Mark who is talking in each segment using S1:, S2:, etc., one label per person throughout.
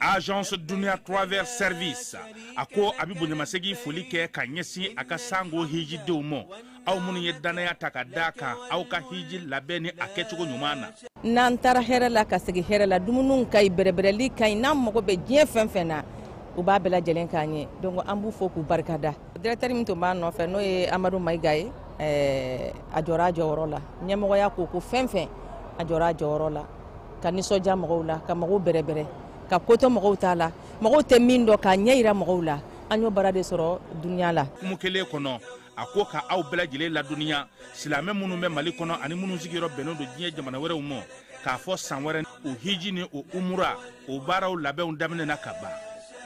S1: agence dunia travel service a ko a bɛ bonyamasegin foli kɛ ka ɲɛsin a ka sango hijidenw ma aw minnu ye dannaya ta ka da a kan aw ka hiji labɛn ni a kɛcogo ɲuman na n'an taara
S2: hɛrɛ la ka segin hɛrɛ la dumuniw ka ɲi bɛrɛbɛrɛli ka ɲi n'an mago bɛ diɲɛ fɛn fɛn na u b'a bɛɛ lajɛlen k'an ye donc an b'u fo k'u barikada directeur min tun b'a nɔfɛ n'o ye amadu maiga ye a jɔra a jɔyɔrɔ la ɲɛmɔgɔya ko ko fɛn fɛn a jɔra a jɔyɔrɔ la ka nisɔndiya mɔgɔw la ka mɔgɔw bɛrɛbɛrɛ ka kotɔ mɔgɔw t'a la mɔgɔw tɛ min dɔn k'a ɲɛ jira mɔgɔw la an y'o baara de sɔrɔ dunya la kuma kelen
S1: kɔnɔ a ko ka aw bɛɛ lajɛlen ladɔnniya silamɛ minnu bɛ mali kɔnɔ ani minnu sigiyɔrɔ bɛnnen don diɲɛ jamana wɛrɛw ma k'a fɔ san wɛrɛ o hiji ni o umura o baaraw labɛnw daminɛna ka ban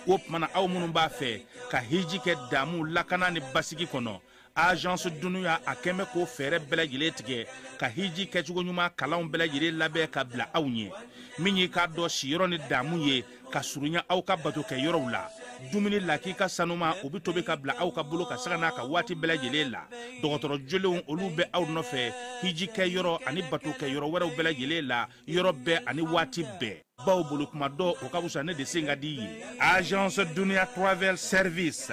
S1: o tuma na aw minnu b'a fɛ ka hiji kɛ damu lakana ni basigi kɔnɔ agence dunia a kɛmɛ k'o fɛɛrɛ bɛɛ lajɛlen tigɛ ka hiji kɛcogo ɲuman kalanw bɛɛ lajɛlen labɛn ka bila aw ɲɛ min y'i k'a dɔn siyɔrɔ ni damu ye ka surunya aw ka bato kɛ yɔrɔw la dumuni lakika sanuman o bɛ tobi ka bila aw ka bolo kan sanga n'a ka waati bɛɛ lajɛlen la dɔgɔtɔrɔ jolenw olu bɛ aw nɔfɛ hiji kɛ yɔrɔ ani bato kɛ yɔrɔ wɛrɛw bɛɛ lajɛlen la yɔrɔ bɛɛ ani waati bɛɛ bawo boli tuma dɔn o ka fisa ne de sen ka di ye agence duniya travel service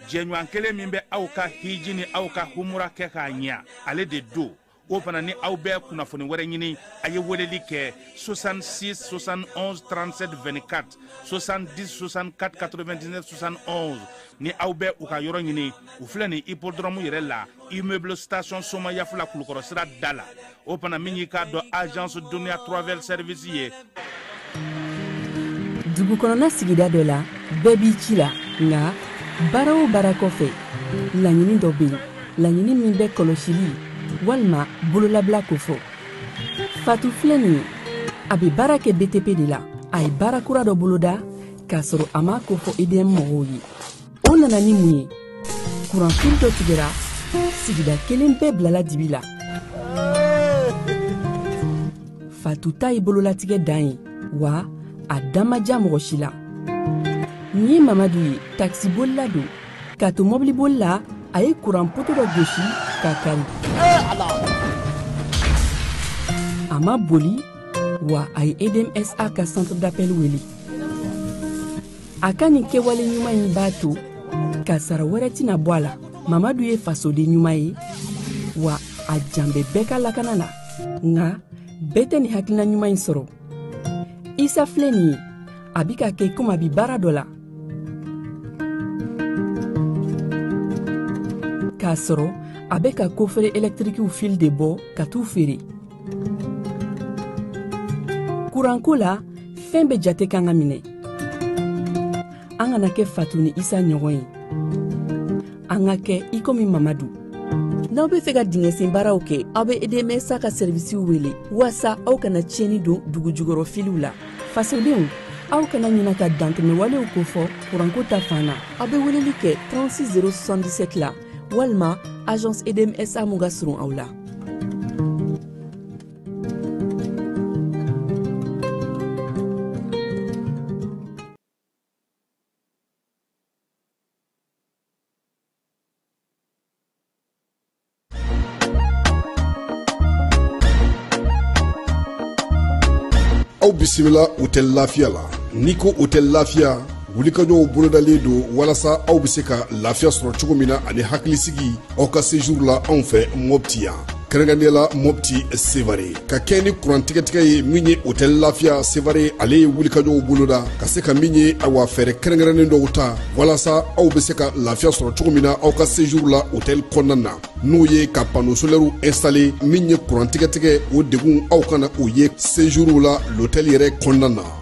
S1: jɛɲɔgɔn kelen min bɛ aw ka hiji ni aw ka humura kɛ k'a ɲɛ ale de don o fana ni aw bɛ kunnafoni wɛrɛ ɲini a ye weleli kɛ 66 71 37 24 70 64 99 71 ni aw bɛ u ka yɔrɔ ɲini u filɛ nin hippodrome yɛrɛ la immeuble station somayaf la kulukɔrɔ sira da la o fana min y'i k'a dɔn agence dunia travel service
S3: ye dugu kɔnɔna sigida dɔ la bɛɛ b'i ci la nka baara o baara kɔfɛ laɲini dɔ bɛ yen laɲini min bɛ kɔlɔsili walima bololabila kofɔ fatu filɛ nin ye a bɛ baara kɛ btp de la a ye baara kura dɔ boloda k'a sɔrɔ a m'a kofɔ edm mɔgɔw ye o nana ni mun ye kuranfili dɔ tigɛra sigida kelen bɛɛ bilala dibi la fatu ta ye bololatigɛ dan ye wa a dan ma diya mɔgɔ si la nin ye mamadu ye takisibolila don k'a to mɔbiliboli la a ye kuran poto dɔ gosi k'a kari a ma boli wa a ye edmsa ka centre d'appel wele a ka nin kɛwale ɲuman in b'a to kasaara wɛrɛ tɛna bɔ a la mamadu ye fasoden ɲuman ye wa a jan bɛ bɛɛ ka lakana na nka bɛɛ tɛ nin hakilina ɲuman in sɔrɔ isa filɛ nin ye a bi k'a kɛ komi a bi baara dɔ la k'a sɔrɔ a bɛ ka kofere ɛlɛtirikiw fili de bɔ ka t'u feere kuranko la fɛn bɛ jate kan ka minɛ an kana kɛ fatu ni isa ɲɔgɔn ye an ka kɛ i komi mamadu n'aw be fɛ ka dingɛsen baaraw kɛ aw be edmsa ka sɛrivisiw wele waasa aw kana tiɲɛni don dugu jugɔrɔ filiw la fasodenw aw kana ɲina ka dantɛmɛwalew kofɔ kuranko ta fan na aw be weleli kɛ 36 077 la walima agence edmsa mun ka surun aw
S4: la aw bisimila otɛli lafiya la n'i ko otɛli lafiya wulikajɔw bolodalen don walasa aw bɛ se ka lafiya sɔrɔ cogo min na ani hakilisigi aw ka sejuru la anw fɛ mɔpti yan kɛrɛnkɛrɛnnenya la mɔpti sevare ka kɛɲɛ ni kurantigɛtigɛ ye min ye otɛli lafiya sevare ale ye wulikajɔw boloda ka se ka min ye awa fɛɛrɛ kɛrɛnkɛrɛnnen dɔw ta walasa aw bɛ se ka lafiya sɔrɔ cogo min na aw ka sejuru la otɛli kɔnɔna na n'o ye ka pano solɛriw instale min ye kurantigɛtigɛ o degun aw kana o ye sejuru la lotɛli yɛrɛ kɔnɔna na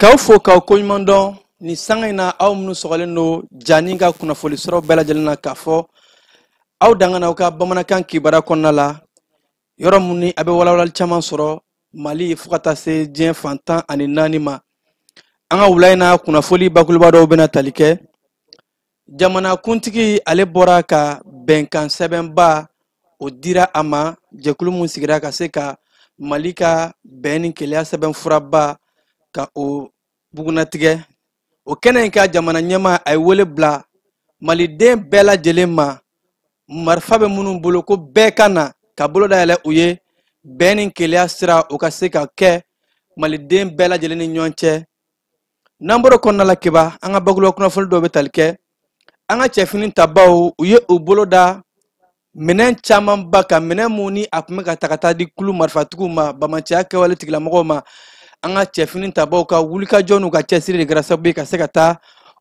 S5: k'aw fo k'aw koɲuman dɔn nin sanga in na aw minnu sɔgɔlen don jani ka kunnafoli sɔrɔ bɛɛ lajɛlen na k'a fɔ aw dangana aw ka bamanankan kibaruya kɔnɔna la yɔrɔ mun ni a bɛ walawalali caman sɔrɔ mali fo ka taa se diɲɛ fan tan ani naani ma an ka wula in na kunnafoli bakuruba dɔw bɛna tali kɛ jamanakuntigi ale bɔra ka bɛnkan sɛbɛnba o dira a ma jɛkulu min sigira ka se ka mali ka bɛn ni kelenya sɛbɛnfuraba ka o bugunatigɛ o kɛnɛ in kan jamana ɲɛmaa a ye wele bila maliden bɛɛ lajɛlen ma marifa bɛ minnu bolo ko bɛɛ ka na ka bolo dayɛlɛ u ye bɛn ni kelenya sira o ka se ka kɛ maliden bɛɛ lajɛlen ni ɲɔgɔn cɛ n'an bɔra kɔnɔna la keba an ka bakuruba kunnafoni dɔw bɛ tali kɛ an ka cɛfini tabaw u ye u bolo da minɛn camanba kan minɛn mun ni a tun bɛ ka ta ka taa di kulu marifatigiw ma bamanciya kɛwale tigilamɔgɔw ma an ka cɛfini tabaw ka wulikajɔ n'u ka cɛsiri de kɛra sababu ye ka se ka taa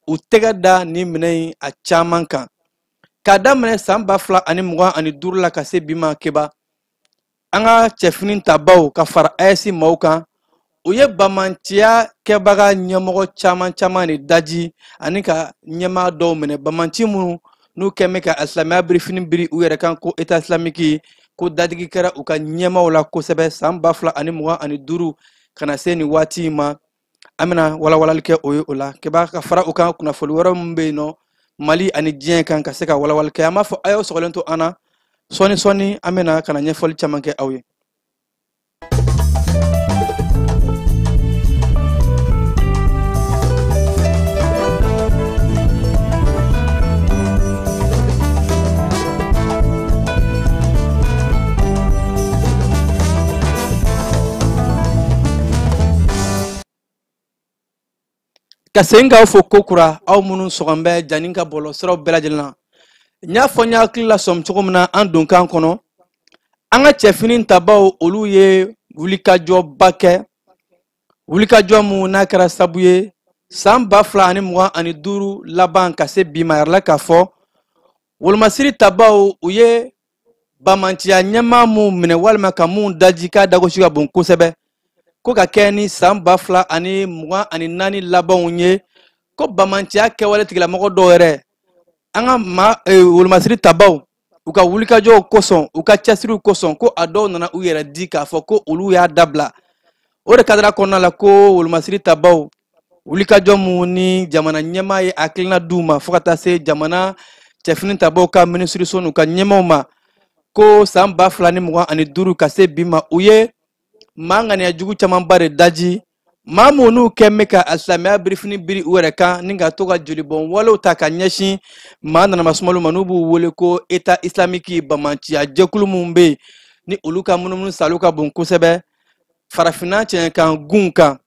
S5: u tɛgɛ da nin minɛn in a caman kan k'a daminɛ san ba fila ani mugan ani duuru la ka se bi ma keba an ka cɛfini tabaw ka fara ayɛsi maaw kan u ye bamanciya kɛbaga ɲɛmɔgɔ caman caman de daji ani ka ɲɛmaa dɔw minɛ bamanci minnu n'u kɛn bɛ ka asilamɛya birifini biri u yɛrɛ kan ko eta islamiki ko dadigi kɛra u ka ɲɛmaaw la kosɛbɛ san ba fila ani mugan ani duuru ka na se nin waati in ma an bɛna walawalali kɛ o ye o la k'i b'a ka fara u kan kunnafoni wɛrɛ min bɛ yen nɔ mali ani diɲɛ kan ka se ka walawalali kɛ an b'a fɔ a y'aw sɔgɔlen to an na sɔɔni sɔɔni an bɛna ka na ɲɛfɔli caman kɛ aw ye ka segin k'aw fo ko kura aw minnu sɔgɔn bɛ jani ka bɔlɔ siraw bɛɛ lajɛlen na n y'a fɔ n y'aw hakili lasɔmi cogo min na an donkan kɔnɔ an ka cɛfini tabaw olu ye wulikajɔba kɛ wulikajɔ mun n'a kɛra sabu ye san ba fila ani mugan ani duuru laban ka se bi ma yɛrɛ la k'a fɔ wolomasiri tabaw u ye bamanciya ɲɛmaa min minɛ walima ka min daji k'a dagosi ka bon kosɛbɛ ko ka kɛ ni san ba fila ani mugan ani naani labanw ye ko bamanciya kɛwale tigilamɔgɔ dɔw yɛrɛ an ka ma e, wolomasiri tabaw u ka wulikajɔw kosɔn u ka cɛsiriw kosɔn ko a dɔw nana u yɛrɛ di k'a fɔ ko olu y'a dabila o de kadara kɔnɔna la ko wolomasiri tabaw wulikajɔ mun ni jamana ɲɛmaa ye hakilina d'u ma fo ka taa se jamana cɛfini tabaw ka minisiriso n'u ka ɲɛmaaw ma ko san ba fila ni mugan ani duuru ka se bi ma u ye maa ŋaniya jugu camanba de daji maa minnu kɛn bɛ ka alisilamɛya birifini biri u yɛrɛ kan ni ka to ka jolibɔn walew ta ka ɲɛsin maa nanamasumaliw ma n'u b'u wele ko état islamique bamanciya jɛkulu minnu bɛ yen ni olu ka munumunu saalo ka bon kosɛbɛ farafinna cɛɲɛkan gun kan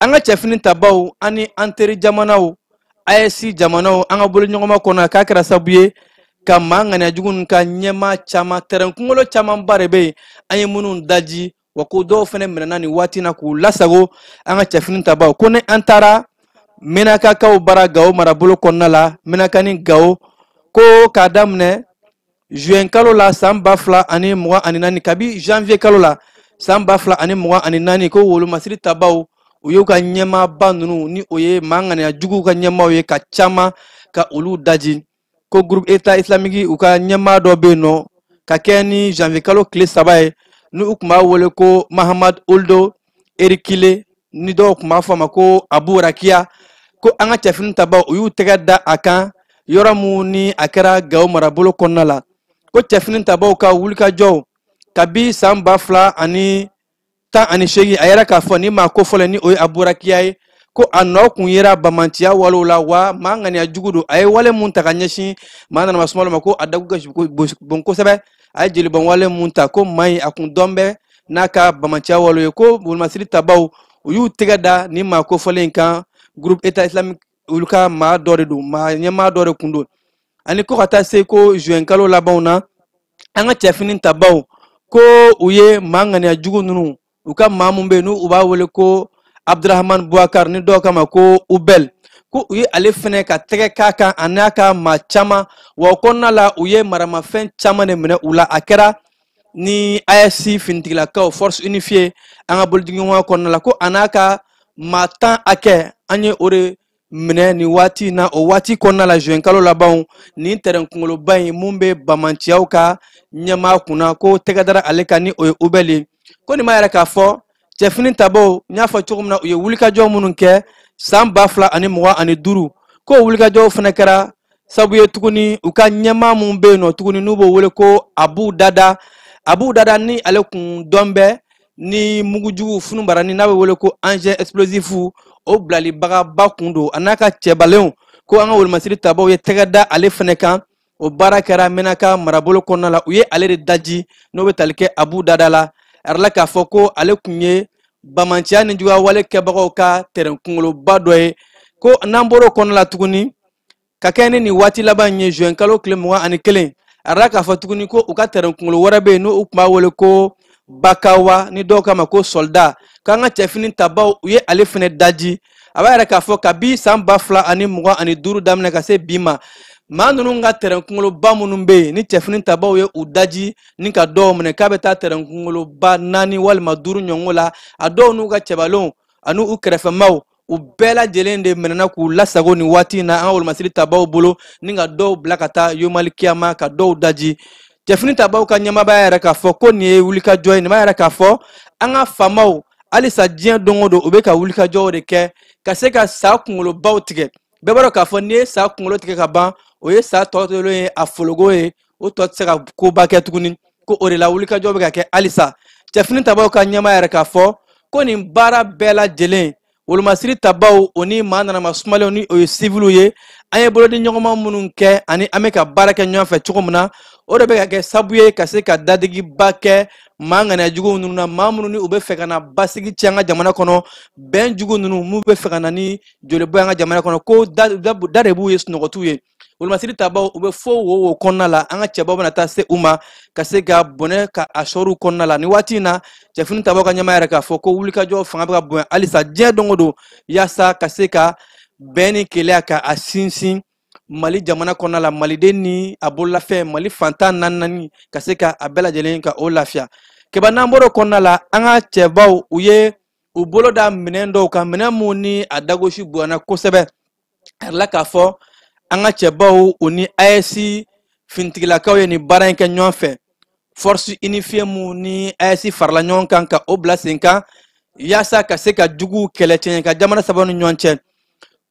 S5: an ka cɛfini tabaw ani an teri jamanaw AES jamanaw an ka boloɲɔgɔnma kɔnɔna la k'a kɛra sabu ye ka maa ŋaniya jugu ninnu ka ɲɛmaa caman tɛrɛn kunkolo camanba de bɛ yen an ye minnu daji wa ko dɔw fana minɛna nin waati na k'u lasago an ka cɛfini tabaw ko ni an taara menakakaw bara gawo marabolo kɔnɔna la menaka ni gawo ko k'a daminɛ juin kalo la san ba fila ani mugan ani naani kabi janvier kalo la san ba fila ani mugan ani naani ko wolomasiri tabaw u y'u ka ɲɛmaaba ninnu ni o ye maa ŋaniya juguw ka ɲɛmaaw ye ka caman ka olu daji ko groupe état islamique u ka ɲɛmaa dɔ bɛ yen nɔ ka kɛɲɛ ni janvier kalo tile saba ye ni u tun b'a wele ko mahamad ould erikile ni dɔw tun b'a fɔ a ma ko abu rakiya ko an ka cɛfini tabaw u y'u tɛgɛ da a kan yɔrɔ mun ni a kɛra gawo marabolo kɔnɔna la ko cɛfini tabaw ka wulikajɔw kabi san ba fila ani tan ani seegin a yira k'a fɔ nin maa kofɔlen ni o ye abu rakiya ye ko a nɔ kun yera bamanciya walew la wa maa ŋaniya jugu don a ye wale mun ta ka ɲɛsin maa nanama sumalo ma ko a dagu ka bon kosɛbɛ a ye jelibɔnwale mun ta ko maa in a kun dɔn bɛ n'a ka bamanciya walew ye ko wolomasiri tabaw u y'u tɛgɛ da nin maa kofɔlen in kan groupe état islamique olu ka maa dɔ de don maa ɲɛmaa dɔ de kun don ani ko ka taa se ko juin kalo labanw na an ka cɛfini tabaw ko u ye maa ŋaniya jugu ninnu u ka maa mun bɛ yen n'u b'a wele ko abdurahamani buwakari ni dɔw k'a ma ko ubɛl ko u ye ale fɛnɛ ka tɛgɛ k'a kan a n'a ka maa caman wa o kɔnɔna la u ye maramafɛn caman de minɛ u la a kɛra ni AES finitigilakaw force unifiée an ka bolodiɲɔgɔnma kɔnɔna la ko a n'a ka maa tan hakɛ an ye o de minɛ nin waati in na o waati kɔnɔna la juin kalo labanw nin tɛrɛn kunkoloba in mun bɛ bamanciyaw ka ɲɛmaa kunna ko tɛgɛ dara ale kan ni o ye ubɛl ye ko nin b'a yira k'a fɔ cɛfini tabaw n y'a fɔ cogo min na u ye wulikajɔ minnu kɛ san ba fila ani mugan ani duuru k'o wulikajɔw fana kɛra sabu ye tuguni u ka ɲɛmaa mun bɛ yen nɔ tuguni n'u b'o wele ko abu dada abu dada ni ale kun dɔn bɛ ni mugujugu funubaranin n'a bɛ wele ko engin explosif o bilalibagaba kun don a n'a ka cɛbalenw ko an ka wolomasiri tabaw ye tɛgɛ da ale fana kan o baara kɛra mɛnaka marabolo kɔnɔna la u ye ale de daji n'o bɛ tali kɛ abu dada la a yirala k'a fɔ ko ale kun ye bamanciya ni juguyawale kɛbagaw ka tɛrɛn kunkoloba dɔ ye ko n'an bɔr'o kɔnɔna la tuguni ka kɛɲɛ ni nin waati laban ye juin kalo tile mugan ani kelen a yirala k'a fɔ tuguni ko u ka tɛrɛn kunkolo wɛrɛ bɛ yen n'u tun b'a wele ko bakawa ni dɔw k'a ma ko sɔlida k'an ka cɛfini tabaw u ye ale fana daji a b'a yira k'a fɔ kabi san ba fila ani mugan ani duuru daminɛ ka se bi ma maa ninnu ka tɛrɛn kunkoloba minnu bɛ yen ni cɛfini tabaw ye u daji ni ka dɔw minɛ k'a bɛ taa tɛrɛn kunkoloba naani walima duuru ɲɔgɔn la a dɔw n'u ka cɛbalenw ani u kɛrɛfɛmaaw u bɛɛ lajɛlen de minɛna k'u lasago nin waati in na an ka wolomasiri tabaw bolo ni ka dɔw bila ka taa yomali kiyama ka dɔw daji cɛfini tabaw ka ɲɛmaaba y'a yira k'a fɔ ko nin ye wulikajɔ ye nin b'a yira k'a fɔ an ka faamaw halisa diɲɛ don o don u bɛ ka wulikajɔw de kɛ ka se ka sa kunkolobaw tigɛ bɛɛ b'a dɔn k'a fɔ n'i ye sa kunkolo tigɛ ka ban o ye sa tɔ tolen ye a fologo ye o tɔ tɛ se ka koba kɛ tuguni ko o de la wulikajɔ bɛ ka kɛ halisa cɛfini tabaw ka ɲɛmaa y'a yira k'a fɔ ko nin baara bɛɛ lajɛlen wolomasiri tabaw o ni maa nanama sumalenw ni o ye siviliw ye an ye bolodiɲɔgɔnma minnu kɛ ani an bɛ ka baara kɛ ɲɔgɔn fɛ cogo min na o de bɛ ka kɛ sabu ye ka se ka dadigiba kɛ maa ŋaniya juguw ninnu na maa minnu ni u bɛ fɛ ka na basigi cɛn an ka jamana kɔnɔ bɛn jugu ninnu minnu bɛ fɛ ka na ni jolibɔn an ka jamana kɔnɔ ko da de b'u ye sunɔgɔ t'u ye wolomasiri tabaw u bɛ fo wo wo kɔnɔna la an ka cɛbaw bɛna taa se u ma ka se ka bɔnɛ ka a sɔri u kɔnɔna la ni waati in na cɛfini tabaw ka ɲɛmaa y'a yira k'a fɔ ko wulikajɔ fanga bɛ ka bonya halisa diɲɛ don o don yaasa ka se ka bɛn ni kelenya ka a sinsin mali jamana kɔnɔna la maliden ni a bololafɛn mali fan tan ni naani ka se ka a bɛɛ lajɛlen ka o lafiya kɛba n'an bɔr'o kɔnɔna la an ka cɛbaw u ye u bolo da minɛn dɔw kan minɛn mun ni a dagosi bonyana kosɛbɛ a yirala k'a fɔ an ka cɛbaw u ni ayɛsi finitigilakaw ye nin baara in kɛ ɲɔgɔn fɛ force unifiée mun ni ayɛsi farala ɲɔgɔn kan ka o bila sen kan yaasa ka se ka juguw kɛlɛ cɛɲɛ ka jamana saba ni ɲɔgɔn cɛ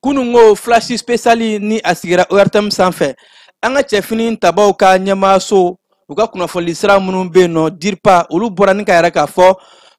S5: kunungo flash spesali ni a sigira ortm sanfɛ an ka cɛfini tabaw ka ɲɛmaaso u ka kunnafoni sira minnu bɛ yen nɔ diripa olu bɔra ni k'a yira k'a fɔ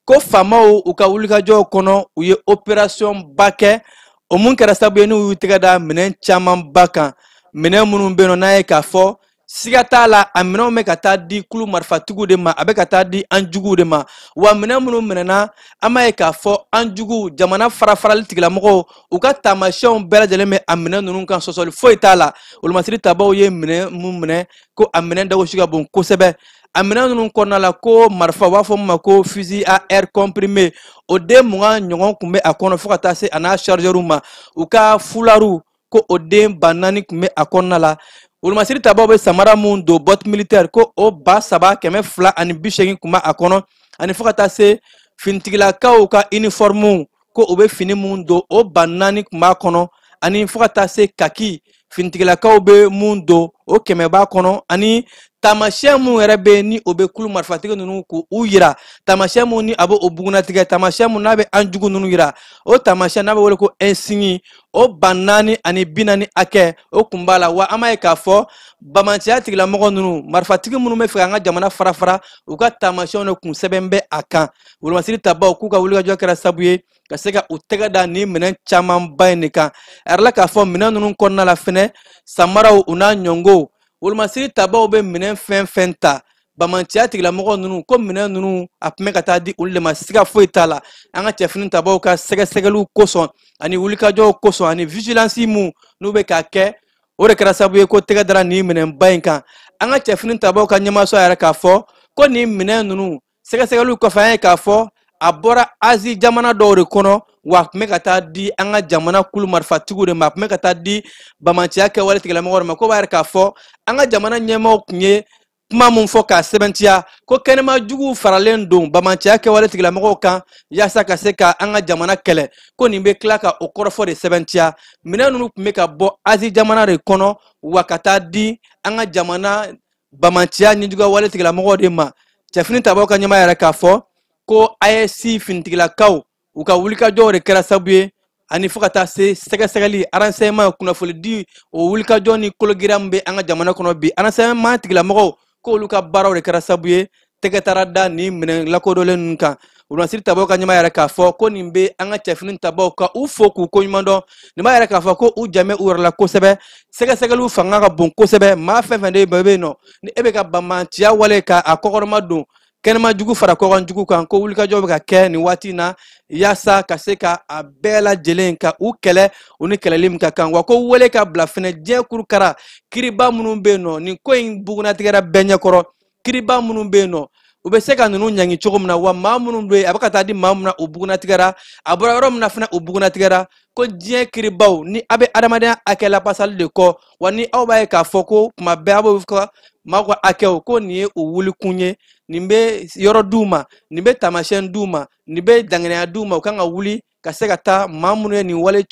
S5: ko faamaw u ka wulikajɔw kɔnɔ u ye operasiyɔn ba kɛ o mun kɛra sababu ye n'u y'u tɛgɛ da minɛn camanba kan minɛn minnu bɛ yen nɔ n'a ye k'a fɔ siga t'a la a minɛnw bɛ ka taa di kulu marifatigiw de ma a bɛ ka taa di an juguw de ma wa minɛn minnu minɛna an b'a ye k'a fɔ an juguw jamana farafarali tigilamɔgɔw u ka taamasiyɛnw bɛɛ lajɛlen bɛ a minɛn ninnu kan sɔsɔli foyi t'a la wolomasiri tabaw ye minɛn mun minɛ ko a minɛn dagosi ka bon kosɛbɛ a minɛn ninnu kɔnɔna la ko marifa u b'a fɔ min ma ko fusil à air comprimé o den mugan ɲɔgɔn tun bɛ a kɔnɔ fo ka taa se a n'a chargeur ma u ka fulariw ko o den ba naani tun bɛ a kɔnɔna la wolomasiri tabaw bɛ samara mun don bɔti militɛri ko o ba saba kɛmɛ fila ani bi seegin tun bɛ a kɔnɔ ani fo ka taa se finitigilakaw ka inifɔrimuw ko u bɛ fini mun don o ba naani tun b'a kɔnɔ ani fo ka taa se kaki finitigilakaw bɛ mun don o kɛmɛ b'a kɔnɔ ani taamasiyɛn mun yɛrɛ bɛ ni o bɛ kulu marifatigi ninnu k'u yira taamasiyɛn mun ni a bɛ o bugunnatigɛ taamasiyɛn mun n'a bɛ an jugu ninnu yira o taamasiyɛn n'a bɛ wele ko insigne o ba naani ani bi naani hakɛ o kun b'a la wa an b'a ye k'a fɔ bamanciya tigilamɔgɔ ninnu marifatigi minnu b'a fɛ k'an ka jamana farafara u ka taamasiyɛnw de kun sɛbɛn bɛ a kan wolomasiri tabaw k'u ka wulikajɔ kɛra sabu ye ka se ka u tɛgɛ da nin minɛn camanba in de kan a yirala k'a fɔ minɛn ninnu kɔnɔna la fɛnɛ samaraw u n'a ɲɔgɔnw wolomasiri tabaw bɛ minɛn fɛn fɛn ta bamanciya tigilamɔgɔ ninnu ko minɛn ninnu a tun bɛ ka taa di olu de ma siga foyi t'a la an ka cɛfini tabaw ka sɛgɛsɛgɛliw kosɔn ani wulikajɔw kosɔn ani vigilance mun n'u bɛ k'a kɛ o de kɛra sababu ye k'u tɛgɛ dara nin minɛnba in kan an ka cɛfini tabaw ka ɲɛmaaso y'a yira k'a fɔ ko nin minɛn ninnu sɛgɛsɛgɛliw kɔfɛ an ye k'a fɔ a bɔra azi jamana dɔw de kɔnɔ wa a tun bɛ ka taa di an ka jamana kulu marifatigiw de ma a tun bɛ ka taa di bamanciya kɛwale tigilamɔgɔw de ma k'o b'a yira k'a fɔ an ka jamana ɲɛmaaw tun ye kuma min fɔ k'a sɛbɛntiya ko kɛnɛma juguw faralen don bamanciya kɛwale tigilamɔgɔw kan yaasa ka se ka an ka jamana kɛlɛ ko nin bɛ tila ka o kɔrɔfɔ de sɛbɛntiya minɛn ninnu tun bɛ ka bɔ azi jamana de kɔnɔ wa ka taa di an ka jamana bamanciya nijuguya wale tigilamɔgɔw de ma cɛfini tabaw ka ɲɛmaa yɛrɛ k'a fɔ ko ayɛsi finitigilakaw u ka wulikajɔw de kɛra sabu ye ani fo ka taa se sɛgɛsɛgɛli renseignement kunnafoni di o wulikajɔ ni kologira min bɛ an ka jamana kɔnɔ bi renseignement tigilamɔgɔw k'olu ka baaraw de kɛra sabu ye tɛgɛ taara da nin minɛn lakodɔnlen ninnu kan wolomasiri tabaw ka ɲɛmaa yɛrɛ k'a fɔ ko nin bɛ an ka cɛfini tabaw ka u fo k'u koɲuman dɔn nin b'a yira k'a fɔ ko u jan bɛ u yɛrɛ la kosɛbɛ sɛgɛsɛgɛliw fanga ka bon kosɛbɛ maa fɛn fɛn de bɛ yen nɔ ni e bɛ ka bamanciya wale ka a kɔkɔrɔmadon kɛnɛma jugu fara kɔkan jugu kan ko wulikajɔ bɛ ka kɛ nin waati na yaasa ka se ka a bɛɛ lajɛlen ka u kɛlɛ u ni kɛlɛli min ka kan wa ko wele ka bila fɛnɛ diɲɛ kurukara kiriba minnu bɛ yen nɔ nin ko in bugunnatigɛra bɛɛ ɲɛkɔrɔ kiriba minnu bɛ yen nɔ u bɛ se ka ninnu ɲangi cogo min na wa maa minnu bɛ yen a bɛ ka taa di maa min na u bugunnatigɛra a bɔra yɔrɔ min na fɛnɛ u bugunnatigɛra ko diɲɛ kiribaw ni a bɛ adamadenya hakɛ lapasali de kɔ wa ni aw b'a ye k'a fɔ ko tuma bɛɛ a b'o fɔ maaw ka hakɛw ko nin ye u wulikun ye nin bɛ yɔrɔ d'u ma nin bɛ taamasiyɛn d'u ma nin bɛ danganiya d'u ma u kan ka wuli ka se ka taa maa minnu ye nin wale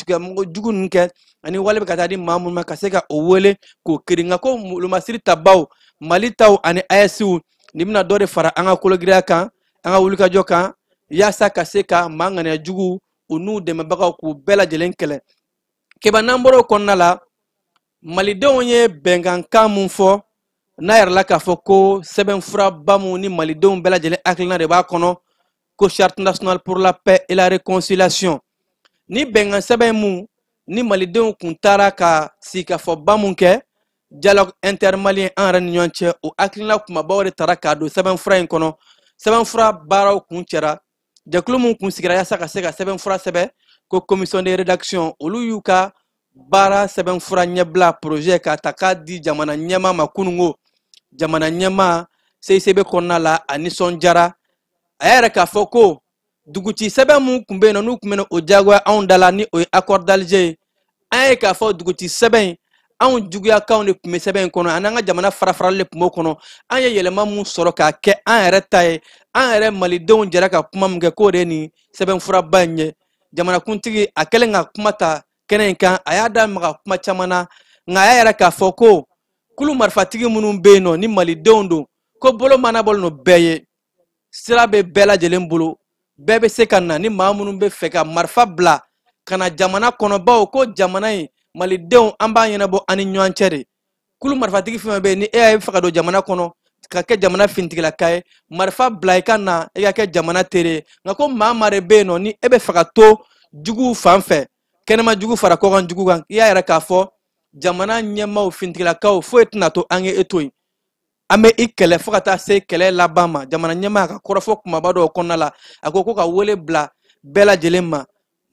S5: jugu ninnu kɛ ani wale bɛ ka taa di maa minnu ma ka se ka o wele k'o kiri nka ko wolomasiri tabaw mali taw ani ayɛsiw nin bɛna dɔ de fara an ka kologiriya kan an ka wulikajɔ kan yaasa ka se ka maa ŋaniya jugu u n'u dɛmɛbagaw k'u bɛɛ lajɛlen kɛlɛ keba n'an bɔr'o kɔnɔna la malidenw ye bɛnkankan mun fɔ n'a yirala k'a fɔ ko sɛbɛnfuraba mun ni malidenw bɛɛ lajɛlen hakilina de b'a kɔnɔ ko charte nationale pour la paix et la réconciliation ni bɛnkan sɛbɛn mun ni malidenw kun taara ka sigikafɔba mun kɛ dialogue intermalien an yɛrɛ ni ɲɔgɔn cɛ o hakilina kunbabaw de tara k'a don sɛbɛnfura in kɔnɔ sɛbɛnfura baaraw kuncɛra jɛkulu min kun sigira yaasa ka se ka sɛbɛnfura sɛbɛn ko commission de rédaction olu y'u ka baara sɛbɛnfura ɲɛbila projet k'a ta k'a di jamana ɲɛmaa ma kunungo jamana ɲɛmaa seisebe kɔnɔna la a nisɔndiyara a y'a yira k'a fɔ ko duguci sɛbɛn min kun bɛ yen nɔ n'u kun bɛna o diyagoya anw da la ni o ye accord d'alger ye an ye k'a fɔ duguci sɛbɛn in anw juguyakanw de tun bɛ sɛbɛn in kɔnɔ an'an ka jamana farafarali de tun b'o kɔnɔ an ye yɛlɛma min sɔrɔ k'a kɛ an yɛrɛ ta ye an yɛrɛ malidenw jɛra ka kuma min kɛ k'o de ye nin sɛbɛnfuraba in ye jamanakuntigi a kɛlen ka kuma ta kɛnɛ in kan a y'a da maga kuma caman na nka a y'a yira k'a fɔ ko kulu marifatigi minnu bɛ yen nɔ ni malidenw don ko bolo mɔɔnɔbɔlen don bɛɛ ye sira bɛ bɛɛ lajɛlen bolo bɛɛ bɛ se ka na ni maa minnu bɛ fɛ ka marifa bila ka na jamana kɔnɔ bawo ko jamana in malidenw an b'a ɲɛnabɔ an ni ɲɔgɔn cɛ de kulu marifatigi fɛn bɛ yen ni e y'a fɛ ka don jamana kɔnɔ ka kɛ jamana finitigilaka ye marifa bila i ka na i ka kɛ jamana teri ye nka ko maa maa de bɛ yen nɔ ni e bɛ fɛ ka to juguw fan fɛ kɛnɛma jugu fara kɔkan jugu kan i y'a yira k'a fɔ jamana ɲɛmaaw finitigilakaw foyi tɛna to an ye e to yen an bɛ i kɛlɛ fo ka taa se kɛlɛ laban ma jamana ɲɛmaa ka kɔrɔfɔ kumaba dɔw kɔnɔna la a ko ko ka wele bila bɛɛ lajɛlen ma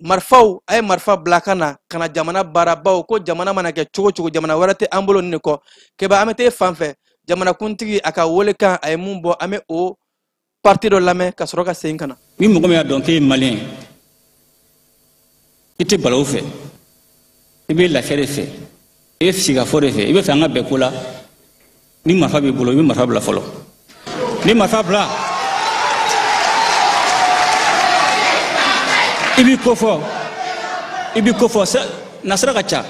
S5: marifaw a ye marifa bila ka na ka na jamana baara bawo ko jamana mana kɛ cogo cogo jamana wɛrɛ tɛ an bolo nin de kɔ kɛba an bɛ taa i fan fɛ jamanakuntigi a ka welekan a ye min bɔ an bɛ o parti dɔ lamɛn ka sɔrɔ ka segin ka na ni mɔgɔ min y'a dɔn k'e
S6: ye maliyɛn i tɛ balawu fɛ i bɛ lafiya de fɛ i bɛ sigikafɔ de fɛ i bɛ fɛ an ka bɛn ko la ni marifa b'i bolo i bɛ marifa bila fɔlɔ ni marifa bila i b'i ko fɔ nasira ka ca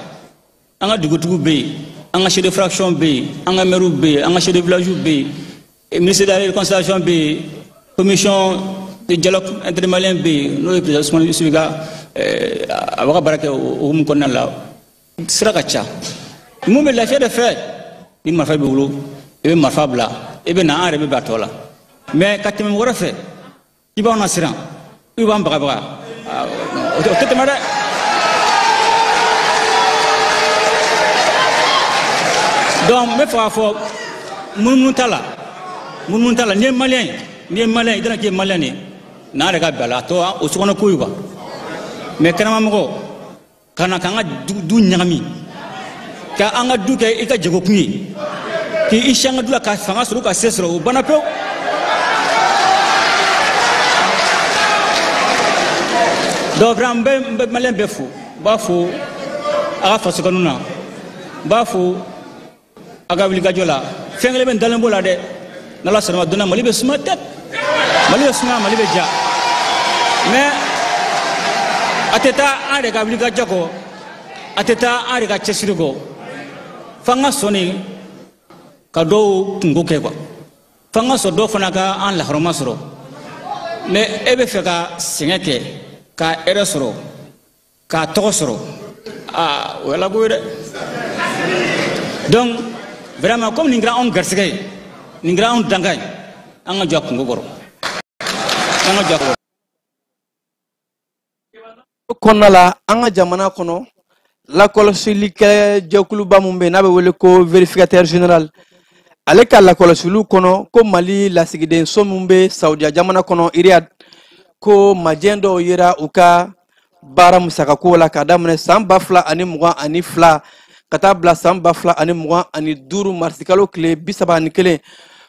S6: an ka dugutigiw bɛ yen an ka chef de fraction bɛ yen an ka maires bɛ yen an ka chef de village bɛ yen eh, ministre de la réconciliation bɛ yen commission de dialogue intermalien bɛ yen n'o ye président Ousmane Issoufi Maïga eh, a b'a ka baara kɛ o hukumu kɔnɔna la sira ka ca mun bɛ lafiya de fɛ ni marifa b'i bolo i bɛ marifa bila i bɛ na an yɛrɛ bɛ bɛn a tɔ la mais ka tɛmɛ mɔgɔ wɛrɛ fɛ i b'anw nasiran i b'an bagabaga o tɛ tɛmɛ dɛ donc n bɛ fɛ k'a fɔ munumunu t'a la munumunu t'a la n'i ye maliyɛn ye n'i ye maliyɛn ye i tɛna k'i ye maliyɛn de ye n'an yɛrɛ ka bɛn a la a tɔ o sokɔnɔ ko ye quoi mais kɛnɛmamɔgɔ ka na k'an ka du ɲagami ka an ka du kɛ i ka jagokun ye k'i sigi an ka du la ka fanga sɔrɔ ka se sɔrɔ o banna pewu donc vraiment n bɛ maliyɛn bɛɛ fo n b'a fo a ka faso kanu na n b'a fo a ka wulikajɔ la fɛn kelen bɛ n dalen b'o la dɛ n'ala sɔnna ma don na mali bɛ suma tɛ mali bɛ suma mali bɛ diya mais a tɛ taa an yɛrɛ ka wulikajɔ kɔ a tɛ taa an yɛrɛ ka cɛsiri kɔ f'an ka sɔn de ka dɔw kunko kɛ quoi f'an ka sɔn dɔw fana ka an lahɔrɔma sɔrɔ mais e bɛ fɛ ka sɛgɛn kɛ ka hɛrɛ sɔrɔ k'a tɔgɔ sɔrɔ aa o ye alako ye dɛ donc vraiment comme nin kɛra anw garisɛgɛ ye nin kɛra anw dankan ye an ka jɔ a kungo kɔrɔ an ka jɔ a kɔrɔ
S5: kɔnɔna la an ka jamana kɔnɔ lakɔlɔsilikɛ jɛkuluba min bɛ yen n'a bɛ wele ko vérificateur général ale ka lakɔlɔsiliw kɔnɔ ko mali lasigidenso min bɛ saudiya jamana kɔnɔ iriyad ko majɛ dɔw yera u ka baara musakako la ka daminɛ san ba fila ani mugan ani fila ka taa bila san ba fila ani mugan ani duuru marisikalo tile bi saba ani kelen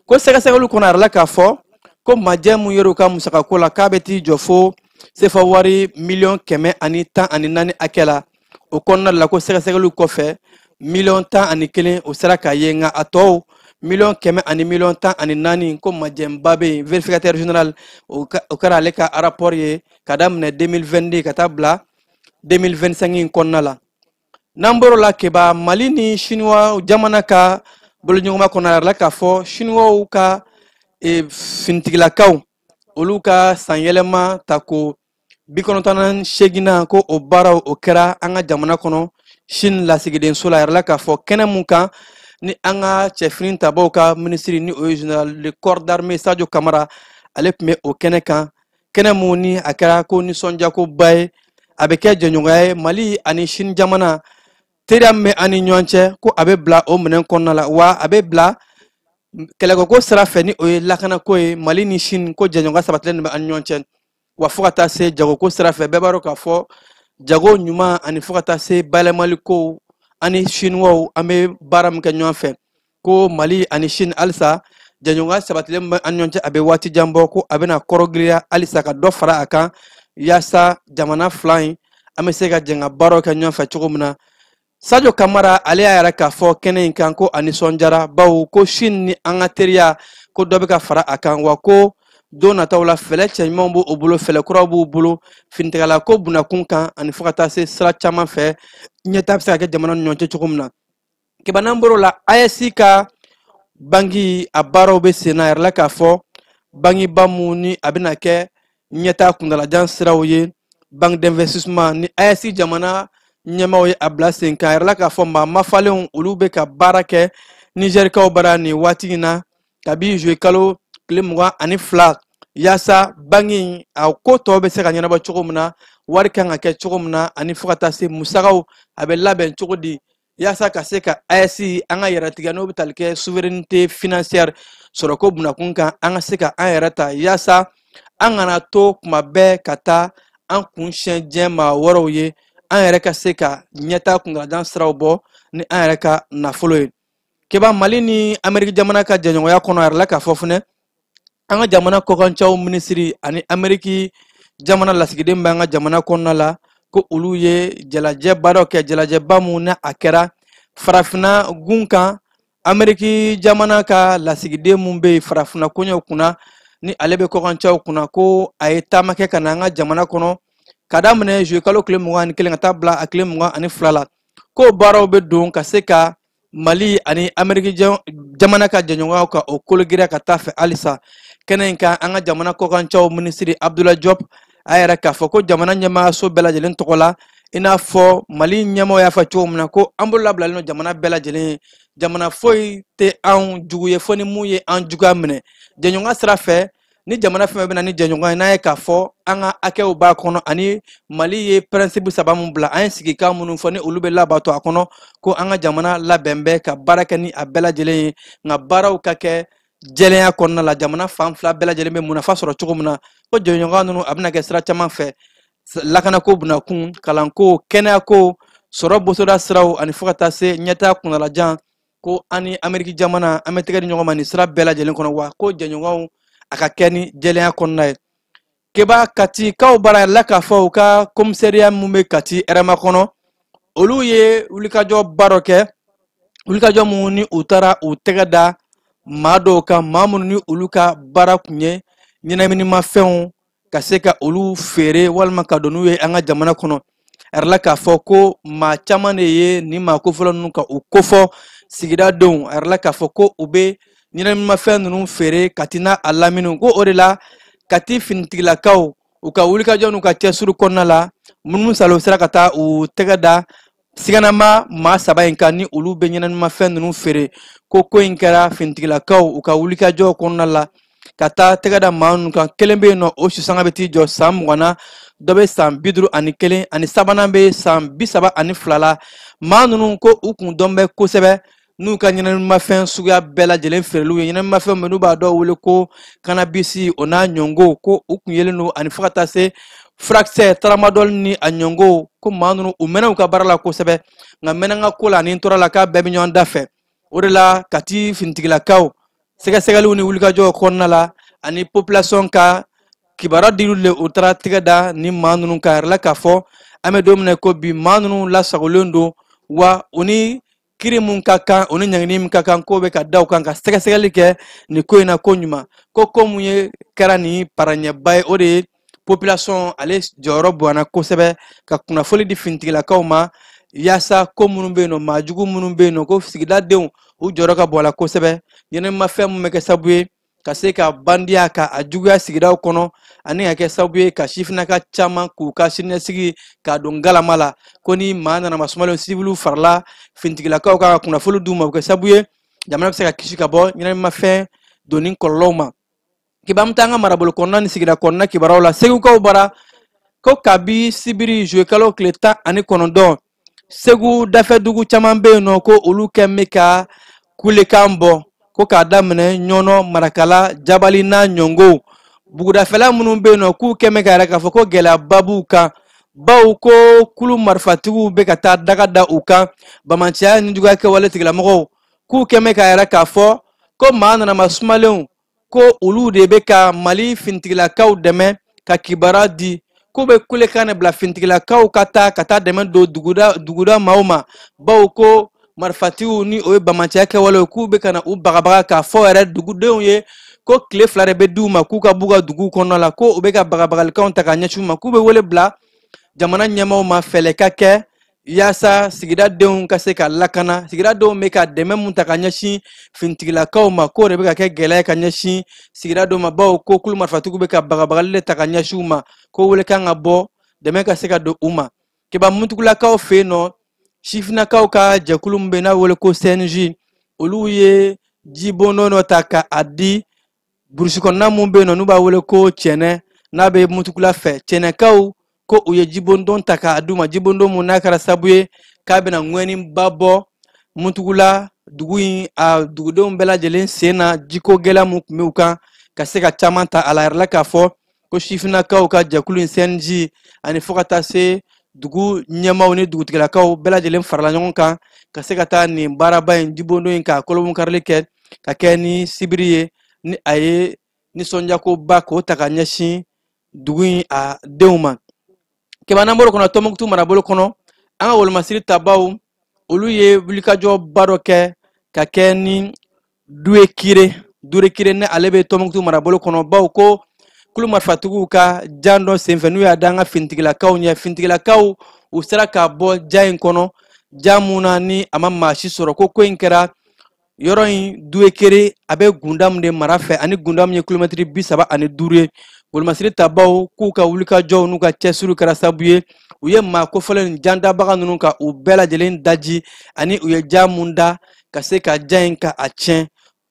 S5: ko sɛgɛsɛgɛliw kɔnɔ a yirala k'a fɔ ko majɛ mun yer'u ka musakako la k'a bɛ t'i jɔ fo sefa wari miliyɔn kɛmɛ ani tan ani naani hakɛ la o kɔnɔna la ko sɛgɛsɛgɛliw kɔfɛ miliyɔn tan ani kelen o sera ka ye nka a tɔw miliyɔn kɛmɛ ani miliyɔn tan ani naani ko majɛnba bɛ yen vérificateur général o kɛra ale ka rapport ye ka daminɛ 2022 ka taa bila 2025 in kɔnɔna la n'an bɔr'o la keba mali ni siniwa jamana ka boloɲɔgɔnma kɔnɔ a yirala k'a fɔ siniwaw ka e, finitigilakaw olu ka sanyɛlɛma ta ko bi kɔnɔntɔn ani seginnan ko o baaraw o kɛra an ka jamana kɔnɔ sini lasigidenso la a yirala k'a fɔ kɛnɛ mun kan ni an ka cɛfini tabaaw ka minisiri ni o ye général de corps d'armée sadio kamara ale tun bɛ o kɛnɛ kan kɛnɛ mun ni a kɛra ko nisɔndiyakoba ye a bɛ kɛ jɛɲɔgɔnya ye mali ani sini jamana teriya min bɛ an ni ɲɔgɔn cɛ ko a bɛ bila o minɛn kɔnɔna la wa a bɛ bila kɛlɛkɛko sira fɛ ni o ye lakanako ye mali ni sini ko jɛɲɔgɔnya sabatilen bɛ an ni ɲɔgɔn cɛ wa fo ka taa se jagoko sira fɛ bɛɛ b'a dɔn k'a fɔ jago ɲuman ani fo ka taa se bayɛlɛmali kow ani siniwaw an bɛ baara min kɛ ɲɔgɔn fɛ ko mali ani shin halisa jɛɲɔgɔnya sabatilen bɛ an ɲɔgɔn cɛ a bɛ waati jan bɔ ko a bɛna kɔrɔgiriya halisa ka dɔ fara a kan yaasa jamana fila in an bɛ se ka jɛn ka baaraw kɛ ɲɔgɔn fɛ cogo min na sajo kamara ale y'a yira k'a fɔ kɛnɛ in kan ko a nisɔndiyara bawo ko shin ni an ka teriya ko dɔ bɛ ka fara a kan wa ko don nataw la fɛlɛ cɛɲumanw b'u bolo fɛlɛ kuraw b'u bolo finitigilako bunakun kan ani fo ka taa se sira caman fɛ ɲɛtaa bɛ se ka kɛ jamana ni ɲɔgɔn cɛ cogo min na keba n'an bɔr'o la aes ka bangi a baaraw bɛ sen na a yirala k'a fɔ bangiba mun ni a bɛna kɛ ɲɛtaa kuntaalajan siraw ye banque d'investissement ni aes jamana ɲɛmaaw ye a bila sen kan a yirala k'a fɔ maa mafalenw olu bɛ ka baara kɛ nizɛrikaw bara nin waati in na kabi juwe kalo tile mugan ani fila yaasa bangi in a ko tɔw bɛ se ka ɲɛnabɔ cogo min na wari kan ka kɛ cogo min na ani fo ka taa se musagaw a bɛ labɛn cogo di yaasa ka se ka ayɛsi an ka yɛrɛtigiya n'o bɛ tali kɛ souveraineté financière sɔrɔko bunakun kan an ka se ka an yɛrɛ ta yaasa an kana to kuma bɛɛ ka taa an kun siɲɛ diɲɛ maa wɛrɛw ye an yɛrɛ ka se ka ɲɛtaa kuntaalajan siraw bɔ ni an yɛrɛ ka nafolo ye keba mali ni ameriki jamana ka jɛɲɔgɔnya kɔnɔ a yirala k'a fɔ fɛnɛ an ka jamana kɔkancɛw minisiri ani ameriki jamana lasigiden b'an ka jamana kɔnɔna la ko olu ye jalajɛba dɔ kɛ jalajɛba mun ni a kɛra farafinna gun kan ameriki jamana ka lasigiden mun bɛ farafinna koɲɛw kunna ni ale bɛ kɔkancɛw kunna ko a ye taama kɛ ka na an ka jamana kɔnɔ ka daminɛ zuye kalo tile mugan ani kelen ka taa bila a tile mugan ani fila la ko baaraw bɛ don ka se ka mali ani ameriki jamana ka jɛɲɔgɔnyaw ka o kologirinya ka taa fɛ halisa kɛnɛ in kan an ka jamana kɔkancɛw minisiri abdula jɔp a yɛrɛ k'a fɔ ko jamana ɲɛmaayaso bɛɛ lajɛlen tɔgɔ la i n'a fɔ mali ɲɛmaaw y'a fɔ cogo min na ko an bolo labilalen don jamana bɛɛ lajɛlen ye jamana foyi tɛ anw jugu ye fo ni mun ye an juguya minɛ jɛɲɔgɔnya sira fɛ ni jamana fɛn bɛ na ni jɛɲɔgɔn ye n'a ye k'a fɔ an ka hakɛw b'a kɔnɔ ani mali ye pɛrɛnsipu saba min bila an ye sigikan minnu fɔ ni olu bɛ labato a kɔnɔ ko an ka jamana labɛn bɛ ka baara kɛ ni a bɛɛ lajɛlen ye nka baaraw ka kɛ jɛlenya kɔnɔna la jamana fan fila bɛɛ lajɛlen bɛ munafa sɔrɔ cogo min na ko jɛɲɔgɔnya ninnu a bɛna kɛ sira caman fɛ lakanako bunakun kalanko kɛnɛyako sɔrɔ bosoda siraw ani fo ka taa se ɲɛtaa kuntaalajan ko an ni ameriki jamana an bɛ tɛgɛ di ɲɔgɔn ma nin sira bɛɛ lajɛlen kɔnɔ wa ko jɛɲɔgɔnya ka kɛ ni jɛlenya kɔnɔna ye keba katikaw bara la k'a fɔ u ka komisariya min bɛ kati hɛrɛmakɔnɔ olu ye wulikajɔba dɔ kɛ wulikajɔ mun ni u taara u tɛgɛ da maa dɔw kan maa minnu ni olu ka baara tun ye ɲɛnaminimafɛnw ka se ka olu feere walima ka don n'u ye an ka jamana kɔnɔ a yirala k'a fɔ ko maa caman de ye nin maa kofɔlen ninnu ka u kofɔ sigida denw a yirala k'a fɔ ko u bɛ ɲɛnaminimafɛn ninnu feere kati n'a a lamini ko o de la kati finitigilakaw u ka wulikajɔ n'u ka cɛsiri kɔnɔna la munumunusaalo sera ka taa u tɛgɛ da siganama maa saba in kan ni olu bɛ ɲɛnaminimafɛn ninnu feere ko ko in kɛra finitigilakaw u ka wulikajɔw kɔnɔna la ka taa tɛgɛ da maa ninnu kan kelen bɛ yen n'o susanga bɛ t'i jɔ san mugan na dɔ bɛ san bi duuru ani kelen ani sabanan bɛ san bi saba ani fila la maa ninnu ko u kun dɔn bɛ kosɛbɛ n'u ka ɲɛnaminimafɛn suguya bɛɛ lajɛlen feereliw ye ɲɛnaminimafɛn minnu b'a dɔw wele ko kanabisi o n'a ɲɔngɔn ko u kun yelen don ani fo ka taa se furakisɛ taramadɔli ni a ɲɔngɔn ko maa ninnu u mɛnna u ka baara la kosɛbɛ nka mɛnna n ka ko la ani n tora a la k'a bɛɛ bɛ ɲɔgɔn dafɛ o de la kati finitigilakaw sɛgɛsɛgɛliw ni wulikajɔw kɔnɔna la ani population ka kibaruya diliw le u taara tɛgɛ da nin maa ninnu kan yirala k'a fɔ an bɛ don min na ko bi maa ninnu lasagolen don wa u ni kiri min ka kan o ni ɲangini min ka kan k'o bɛ ka da u kan ka sɛgɛsɛgɛli kɛ nin ko in na koɲuman ko ko mun ye kɛra nin baara ɲɛba ye o de ye population ale jɔyɔrɔ bonyana kosɛbɛ ka kunnafoli di finitigilakaw ma yaasa ko minnu bɛ yen nɔ maajugu minnu bɛ yen nɔ ko sigidadenw u jɔyɔrɔ ka bon a la kosɛbɛ ɲɛnaminimafɛn min bɛ kɛ sababu ye ka se ka bandiya ka a juguya sigidaw kɔnɔ ani ka kɛ sababu ye ka sifinnaka caman k'u ka siniɲɛsigi k'a don galama la ko ni maa nana masumalen siviliw farala finitigilakaw ka kunnafoli d'u ma o bɛ kɛ sababu ye jamana bɛ se ka kisi ka bɔ ɲɛnaminimafɛn donni kɔlɔlɔw ma keba an bɛ taa an ka marabolo kɔnɔna ni sigida kɔnɔna kibaruyaw la segukaw bara ko kabi sibiri zuluyekalo tile tan ani kɔnɔntɔn segu dafɛdugu caman bɛ yen nɔ ko olu kɛ bɛ ka kulekan bɔ ko k'a daminɛ ɲɔnɔ marakala jabali n'a ɲɔngɔnw bugudafɛla minnu bɛ yen nɔ k'u kɛ bɛ k'a yira k'a fɔ ko gɛlɛyaba b'u kan baw ko kulu marifatigiw bɛ ka taa daga da u kan bamanciya ni juguya kɛwale tigilamɔgɔw k'u kɛ bɛ k'a yira k'a fɔ ko maa nanama sumalenw ko olu de bɛ ka mali fintigilakaw dɛmɛ ka kibaruya di k'u bɛ kulekan de bila fintigilakaw ka taa ka taa dɛmɛ don duguda maaw ma bawo ko marifatigiw ni o ye bamanciya kɛwalew k'u bɛ ka na u bagabaga k'a fɔ yɛrɛ dugudenw ye ko tile fila de bɛ di u ma k'u ka b'u ka duguw kɔnɔna la ko u bɛ ka bagabagalikanw ta ka ɲɛsin u ma k'u bɛ wele bila jamana ɲɛmaaw ma fɛɛrɛ ka kɛ yaasa sigida denw ka se ka lakana sigida denw bɛ ka dɛmɛ mun ta ka ɲɛsin finitigilakaw ma k'o de bɛ ka kɛ gɛlɛya ka ɲɛsin sigida dɔw ma baw ko kulu marifatigiw bɛ ka bagabagali de ta ka ɲɛsin u ma ko welekan ka bɔ dɛmɛ ka se ka don u ma keba mutugulakaw fɛ yen nɔ sifinnakaw ka jɛkulu min bɛ n'a wele ko cnj olu ye jibondon dɔ ta ka a di burusi kɔnɔna mun bɛ yen nɔ n'u b'a wele ko cɛnɛ n'a bɛ mutugula fɛ cɛnɛkaw ko u ye jibondon ta k'a d'u ma jibondon mun n'a kɛra sabu ye k'a bɛna ŋɔniba bɔ mutugula dugu in a dugudenw bɛɛ lajɛlen sen na jiko gɛlɛya mun tun bɛ u kan ka se ka caman ta a la yirala k'a fɔ ko sifinnakaw ka jɛkulu in cnj ani fo ka taa se dugu ɲɛmaw ni dugutigilakaw bɛɛ lajɛlen farala ɲɔgɔn kan ka se ka taa nin baaraba in jibondon in ka kurunbonkarili kɛ ka kɛ ni sibiri ye ni a ye nisɔndiyakoba k'o ta ka ɲɛsin dugu in a denw ma keba n'an bɔl'o kɔnɔ tɔnbukutu marabolo kɔnɔ an ka wolomasiri tabaw olu ye wulikajɔba dɔ kɛ ka kɛ ni duekire duekire ni ale bɛ tɔmɔkutu marabolo kɔnɔ baw ko kulu marifatigiw ka jan dɔ senfɛ n'u y'a da an ka finitigilakaw ɲɛ finitigilakaw u sera ka bɔ jan in kɔnɔ jan mun na ni a ma maa si sɔrɔ ko ko in kɛra yɔrɔ in duekire a bɛ gundamu de mara fɛ ani gundamu ye kilomɛtiri bi saba ani duuru ye wolomasiri tabaw k'u ka wulikajɔw n'u ka cɛsiriw kɛra sabu ye u ye maa kofɔlen nin jandabaga ninnu ka u bɛɛ lajɛlen daji ani u ye jan mun da ka se ka jan in ka a tiɲɛ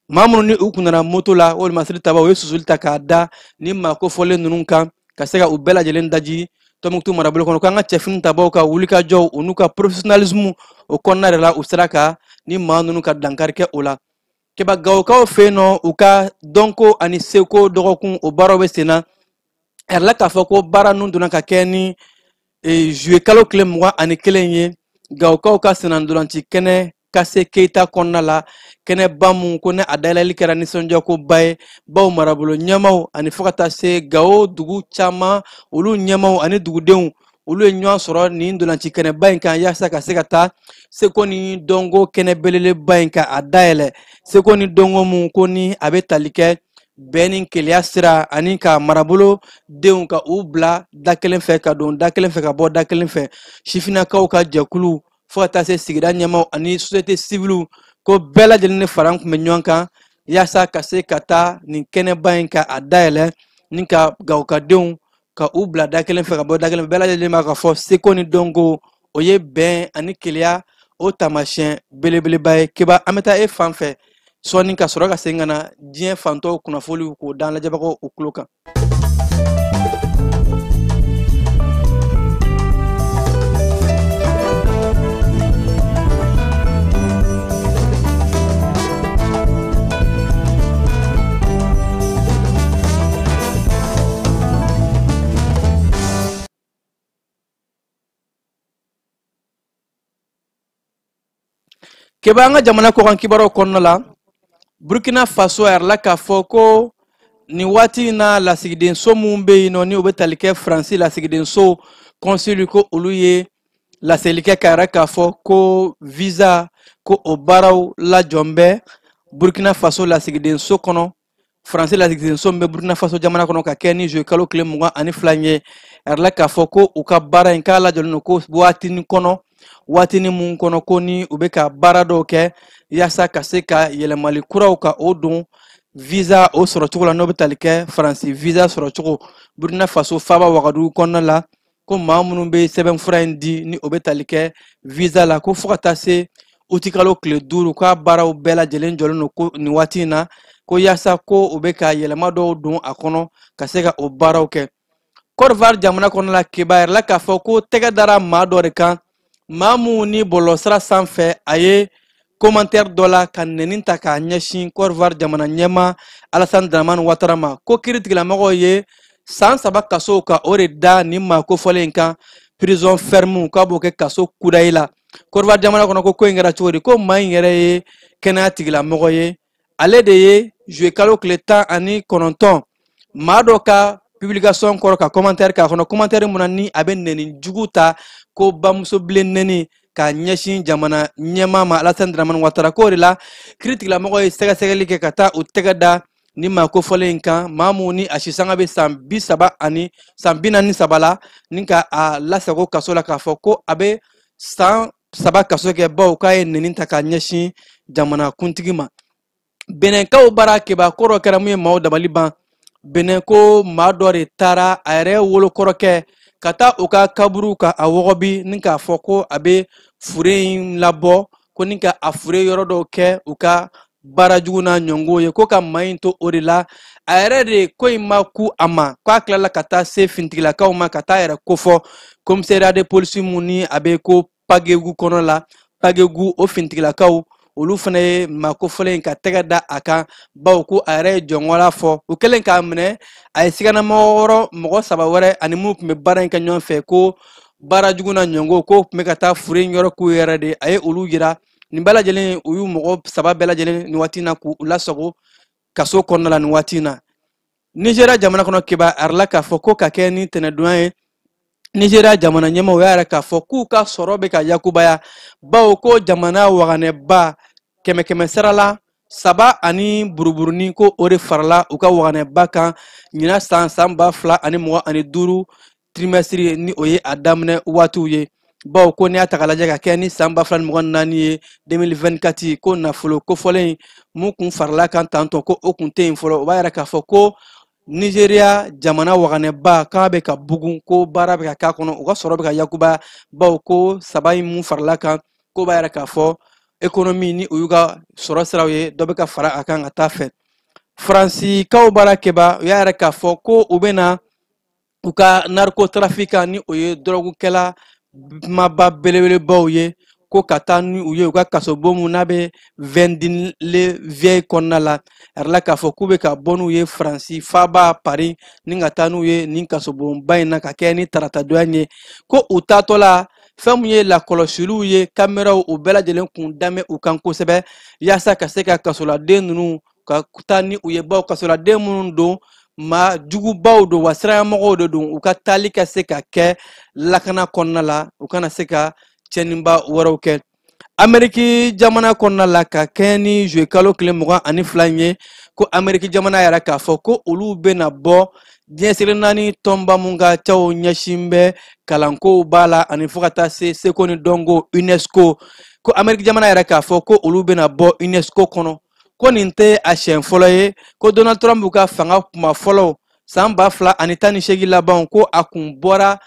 S5: maa minnu ni u kun nana moto la wolomasiri tabaw ye susuli ta k'a da ni maa kofɔlen ninnu kan ka se ka u bɛɛ lajɛlen daji tɔmɔkutu marabolo kɔnɔ k'an ka cɛfini tabaw ka wulikajɔw u n'u ka professionnalisme o kɔnɔna de la u sera ka ni maa ninnu ka dankari kɛ o la keba gawokaw fɛ yen nɔ u ka dɔnko ani seko dɔgɔkun o baaraw bɛ sen na a yirala k'a fɔ ko baara ninnu donna ka kɛ ni juillet kalo tile mugan ani kelen ye gawokaw ka sennantolanci kɛnɛ kase keyita kɔnɔna la kɛnɛba mun ko ni a dayɛlɛli kɛra nisɔndiyakoba ye baw marabolo ɲɛmaw ani fo ka taa se gawo dugu caman olu ɲɛmaw ani dugudenw olu ye ɲɔgɔn sɔrɔ nin ntolanci kɛnɛba in kan yasa ka se ka taa seko ni dɔnko kɛnɛ belebeleba in ka a dayɛlɛ seko ni dɔnko mun ko ni a bɛ tali kɛ bɛn ni keleya sira ani ka marabolo denw ka u bila da kelen fɛ ka don da kelen fɛ ka bɔ da kelen fɛ sifinnakaw ka jɛkulu fo ka taa se sigida ɲɛmaaw ani société civile ko bɛɛ lajɛlen ni fara kun bɛ ɲɔgɔn kan yasa ka se ka taa nin kɛnɛba in ka a dayɛlɛ ni ka gawo ka denw ka u bila da kelen fɛ ka bɔ da kelen fɛ bɛɛ lajɛlen b'a ka fɔ seko ni dɔnko o ye bɛn ani keleya o taamasiyɛn belebeleba ye keba an bɛ taa e fan fɛ sɔɔni ka sɔrɔ ka segin ka na diɲɛ fantɔw kunnafoliw k'o d'an lajɛbagaw u tulo kan keba an ka jamana kɔkan kibaruw kɔnɔna la burkina faso a yirala k'a fɔ ko nin waati in na lasigidenso mun bɛ yen nɔ ni u bɛ tali kɛ faransi lasigidenso kɔnsili ko olu ye laseli kɛ k'a yira k'a fɔ ko visa ko o baaraw lajɔlen bɛ burkina faso lasigidenso kɔnɔ faransi lasigidenso min bɛ burkina faso jamana kɔnɔ ka kɛ ni zuwe kalo tile mugan ani fila in ye a yirala k'a fɔ ko u ka baara in k'a lajɔlen don ko waatini kɔnɔ waatini mun kɔnɔ ko ni u bɛ ka baara dɔw kɛ yaasa ka se ka yɛlɛmali kuraw ka o don visa o sɔrɔcogo la n'o bɛ tali kɛ faransi visa sɔrɔcogo burkina faso faaba wagadugu kɔnɔna la ko maa minnu bɛ sɛbɛnfura in di ni o bɛ tali kɛ visa la ko fo ka taa se uti kalo tile duuru k'a baaraw bɛɛ lajɛlen jɔlen don ko nin waati in na ko yaasa ko u bɛ ka yɛlɛma dɔw don a kɔnɔ ka se ka o baaraw kɛ Côte d'Ivoire jamana kɔnɔna la kibaru yirala k'a fɔ ko tɛgɛ dara maa dɔ de kan maa mun ni bɔlɔlɔsira sanfɛ a ye commentaire dɔ la ka nɛni ta k'a ɲɛsin Côte d'Ivoire jamana ɲɛmaa Alassane Dramane Ouattara ma ko kiri tigilamɔgɔw ye san saba kaso ka o de da nin maa kofɔlen in kan prison ferme k'a b'o kɛ kaso kudayi la Côte d'Ivoire jamana kɔnɔ ko ko in kɛra cogo di ko maa in yɛrɛ ye kɛnɛya tigilamɔgɔ ye ale de ye juwe kalo tile tan ani kɔnɔntɔn maa dɔ ka publication kɔrɔ ka commentaire k'a kɔnɔ commentaire mun na ni a bɛ nɛni jugu ta ko bamuso bilen nɛni ka ɲɛsin jamana ɲɛmaa ma alasani dramani watara k'o de la kiri tigilamɔgɔw ye sɛgɛsɛgɛli kɛ ka taa u tɛgɛ da ni maa kofɔlen in kan maa mun ni a sisanga bɛ san bi saba ani san bi naani saba la ni ka a lasago kaso la k'a fɔ ko a bɛ san saba kaso kɛ bawo k'a ye nɛni ta ka ɲɛsin jamana kuntigi ma benɛnkaw bara kabako dɔ kɛra mun ye maaw dabali ban benɛn ko maa dɔ de taara a yɛrɛ wolo kɔrɔkɛ ka taa u ka kaburu ka a wɔgɔbi ni k'a fɔ ko a bɛ fure in labɔ ko ni ka a fure yɔrɔ dɔw kɛ u ka baara jugu n'a ɲɔngo ye ko ka maa in to o de la a yɛrɛ de ko in ma ku a ma ko a tilala ka taa se finitigilakaw ma ka taa a yɛrɛ kofɔ commissariat de police mun ni a bɛ ko pagegu kɔnɔ la pagegu o finitigilakaw olu fana ye maa kofɔlen in ka tɛgɛ da a kan bawo ko a yɛrɛ ye jɔngɔla fɔ u kɛlen k'a minɛ a ye siganamɔgɔ wɛrɛ mɔgɔ saba wɛrɛ ani minnu tun bɛ baara in kɛ ɲɔgɔn fɛ ko baara jugu na ɲɔngo k'o tun bɛ ka taa fure yɔrɔ k'u yɛrɛ de a ye olu yira nin bɛɛ lajɛlen u y'u mɔgɔ saba bɛɛ lajɛlen nin waati na k'u lasago kaso kɔnɔna la nin waati na nizeriya jamana kɔnɔ kibaru yirala k'a fɔ ko ka kɛ ni tɛnɛdon in ye nizeriya jamana ɲɛmaaw y'a yira k'a fɔ k'u ka sɔrɔ bɛ ka yakubaya bawo ko jamana waganɛba kɛmɛ kɛmɛ sara la saba ani buruburunin ko o de farala u ka waganɛba kan ɲina san san ba fila ani mugan ani duuru trimɛsiri ye ni o ye a daminɛ waatiw ye baw ko n'i y'a ta k'a lajɛ ka kɛ ni san ba fila ni mugan ni naani ye 2024 ko nafolo kofɔlen in mun kun farala kan tantɔ ko o kun tɛ yen fɔlɔ o b'a yira k'a fɔ ko nizeriya jamana waganɛba k'a bɛ ka bugun ko baara bɛ ka k'a kɔnɔ u ka sɔrɔ bɛ ka yakuba baw ko saba in mun farala kan k'o b'a yira k'a fɔ ekonomi ni o y'u ka sɔrɔ siraw ye dɔ bɛ ka fara a kan ka taa fɛ faransikaw baarakɛbaw y'a yira k'a fɔ ko u bɛna u ka narikotrafikan ni o ye dɔrɔgukɛla maaba belebelebaw ye ko ka taa ni u ye u ka kasobon mun n'a bɛ vendin le vieil kɔnɔna la a yirala k'a fɔ k'u bɛ ka bɔ n'u ye faransi faaba pari ni ka taa n'u ye nin kasobonba in na ka kɛ ni taratadon yan ye ko u taatɔ la fɛn min ye lakɔlɔsiliw ye kameraw u bɛɛ lajɛlen kun dan bɛ u kan kosɛbɛ yaasa ka se ka kasoladen ninnu ka taa ni u ye baw kasoladen minnu don maa jugubaw don wa siranɲɛmɔgɔw de don u ka taali ka se ka kɛ lakana kɔnɔna la u kana se ka cɛnniba wɛrɛw kɛ ameriki jamana kɔnɔna la ka kɛɲɛ ni zuye kalo tile mugan ani fila in ye ko ameriki jamana y'a yira k'a fɔ ko olu bɛna bɔ diɲɛ seleke naani tɔnba mun ka caw ɲɛsin bɛ kalankow b'a la ani fo ka taa se seko ni dɔnko unesco ko ameriki jamana y'a yira k'a fɔ ko olu bɛna bɔ unesco kɔnɔ ko nin tɛ a siɲɛ fɔlɔ ye ko donald trump ka fanga kuma fɔlɔ san ba fila ani tan ni seegin labanw ko a kun bɔra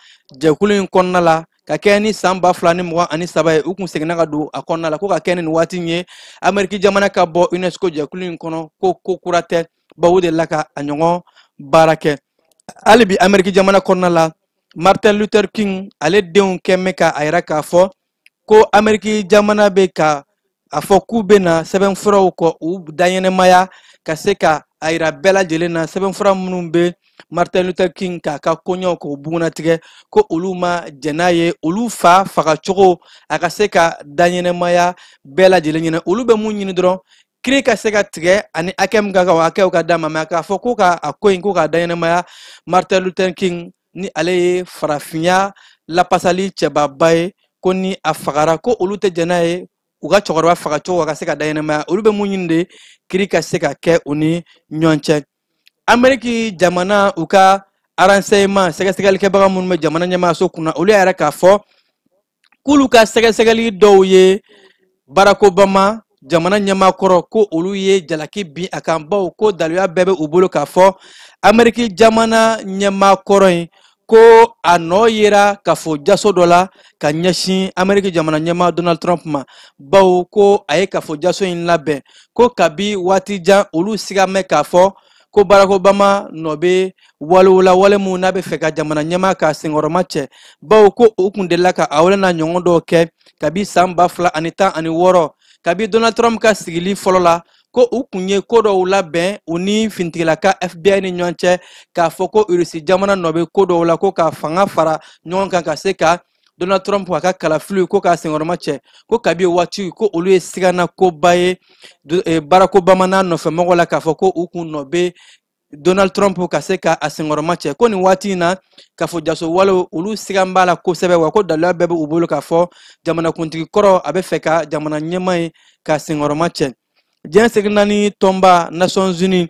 S5: jɛkulu in kɔnɔna la ka kɛɲɛ ni san ba fila ni mugan ani saba ye u kun seginna ka don a kɔnɔna la ko ka kɛɲɛ ni nin waati in ye ameriki jamana ka bɔ unesco jɛkulu in kɔnɔ ko ko kura tɛ baw u delila ka a ɲɔgɔn baara kɛ hali bi ameriki jamana kɔnɔna la martin luther king ale denw kɛn bɛ ka a yira k'a fɔ ko ameriki jamana bɛ ka a fɔ k'u bɛna sɛbɛnfuraw k'u daɲɛnamaya ka se ka a yira bɛɛ lajɛlen na sɛbɛnfura minnu bɛ martin luther king k'a ka koɲɛw k'o bugunnatigɛ ko olu ma jɛn n'a ye olu fa fagacogo a ka se ka daɲɛnamaya bɛɛ lajɛlen ɲɛna olu bɛ mun ɲini dɔrɔn kiiri ka se ka tigɛ ani hakɛ min ka kan o hakɛw ka d'a ma mɛ k'a fɔ k'u ka a ko in k'u k'a daɲɛnamaya martin luther king ni ale ye farafinya lapasali cɛbaba ye ko ni a fagara ko olu tɛ jɛn n'a ye u ka cɛkɔrɔba fagacogo a ka se ka daɲɛnamaya olu bɛ mun ɲini de kiiri ka se ka kɛ u ni ɲɔgɔn cɛ ameriki jamana u ka aranseyeman sɛgɛsɛgɛlikɛbaga minnu bɛ jamana ɲɛmaayaso kunna olu y'a yira k'a fɔ k'olu ka sɛgɛsɛgɛli dɔw ye barack obama jamana ɲɛmaa kɔrɔ ko olu ye jalaki bin a kan baw ko daluya bɛɛ bɛ u bolo k'a fɔ ameriki jamana ɲɛmaa kɔrɔ in ko a nɔ yera kafo jaso dɔ la ka ɲɛsin ameriki jamana ɲɛmaa donald trump ma bawo ko a ye kafo jaso in labɛn ko kabi waati jan olu sigan bɛ k'a fɔ ko barack obama nɔ bɛ walew la wale min n'a bɛ fɛ ka jamana ɲɛmaa ka senkɔrɔma cɛ bawo ko u kun delila ka a wale n'a ɲɔgɔn dɔw kɛ kabi san ba fila ani tan ani wɔɔrɔ kabi donald trump ka sigili fɔlɔ la ko u kun ye ko dɔw labɛn u ni finitigila ka fbi ni ɲɔgɔn cɛ k'a fɔ ko irisi jamana nɔ bɛ ko dɔw la ko ka fanga fara ɲɔgɔn kan ka se ka donald trump a ka kalafiliw ko k'a senkɔrɔma cɛ ko kabi waati ko olu ye sigana koba ye eh, barack obama n'a nɔfɛmɔgɔw la k'a fɔ ko u kun nɔ bɛ donald trump ka se ka a senkɔrɔma cɛ ko nin waati in na k'a fɔ jaso walew olu sigan b'a la kosɛbɛ wa ko daluya bɛɛ bɛ u bolo k'a fɔ jamanakuntigi kɔrɔ a bɛ fɛ ka jamana ɲɛmaa ye ka senkɔrɔma cɛ diɲɛ seleke naani tɔnba nations unies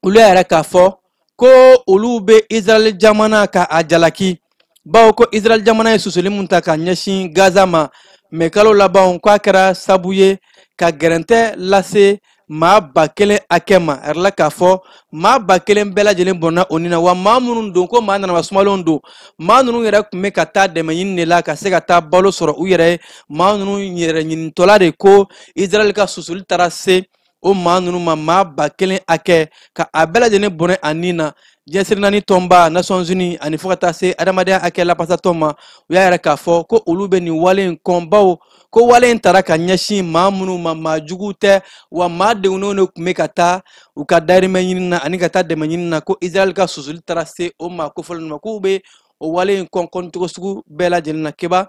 S5: olu y'a yira k'a fɔ ko olu bɛ israɛl jamana ka a jalaki bawo ko israɛl jamana ye susuli min ta ka ɲɛsin gaza ma mɛ kalo labanw k'a kɛra sabu ye ka gɛrɛntɛ lase maa ba kelen hakɛ ma a yirala k'a fɔ maa ba kelen bɛɛ lajɛlen bɔnna u ni na wa maa minnu don ko maa nanaba sumalenw don maa ninnu yɛrɛ kun bɛ ka taa dɛmɛ ɲini de la ka se ka taa balo sɔrɔ u yɛrɛ ye maa ninnu yɛrɛ ɲinitɔla de ko israɛl ka susuli taara se o maa ninnu ma maa ba kelen hakɛ ka a bɛɛ lajɛlen bɔnɛ a ni na diɲɛ seleke naani tɔnba nations unies ani fo ka taa se adamadenya hakɛ lapasatɔn ma u y'a yira k'a fɔ ko olu bɛ nin wale in kɔn bawo ko wale in tara ka ɲɛsin maa minnu ma maa juguw tɛ wa maa degunnenw de kun bɛ ka taa u ka dayirimɛ ɲini na ani ka taa dɛmɛ ɲini na ko israɛl ka susuli taara se o maa kofɔlen ninnu ma k'u bɛ o wale in kɔn kɔncogo sugu bɛɛ lajɛlen na keba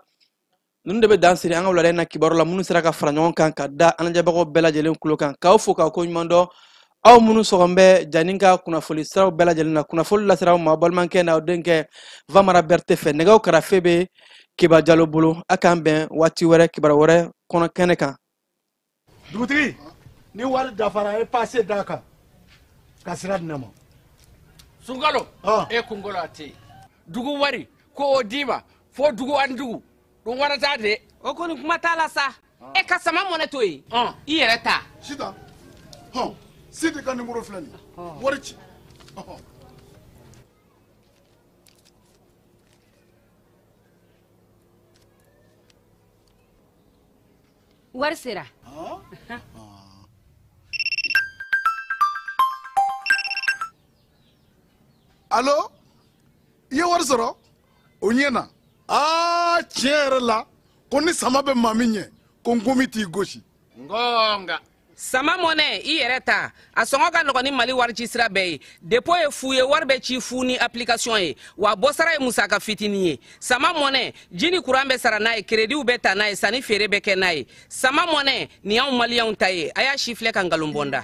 S5: ninnu de bɛ dan siri an ka wulada in na kibaru la minnu sera ka fara ɲɔgɔn kan ka da an lajɛbagaw bɛɛ lajɛlen kulo kan k'aw fo k'aw ko ɲuman dɔn aw minnu sɔgɔn bɛ janni ka kunnafoli siraw bɛɛ lajɛlen na kunnafoli lasera aw ma balimakɛ n'aw denkɛ vamara bɛrɛte fɛ nɛgɛw karafe bɛ keba jalo bolo a k'an bɛn waati wɛrɛ kibaru wɛrɛ kɔnɔ kɛnɛ kan dugutigi
S7: ni wari dafara a ye paase d'a kan ka sira di ne ma sunkalo
S8: e kunkolo a tɛ yen dugu wari ko o d'i ma fo dugu ani dugu don wɛrɛ t'a de o kɔni kuma t'a la
S9: sa e ka sama mɔnɛ to yen i yɛrɛ ta sita
S4: hɔn sidi ka nimoro filɛ nin wari ci
S9: wari
S4: sera alo i ye wari sɔrɔ o ɲɛna aa tiɲɛ yɛrɛ la ko ni sama bɛ maa min ɲɛ ko nkomi t'i gosi nka
S9: sama mɔnɛ i yɛrɛ ta a sɔngɔ ka nɔgɔn ni mali warici sira bɛɛ ye depo ye fu ye wari bɛ ci fu ni application ye wa bɔsara ye musaka fitinin ye sama mɔnɛ ji ni kuran bɛ sara n'a ye kerediw bɛ ta n'a ye sanni feere bɛ kɛ n'a ye sama mɔnɛ nin y'anw maliyɛnw ta ye a y'a sifilɛ ka nkalon bɔ n da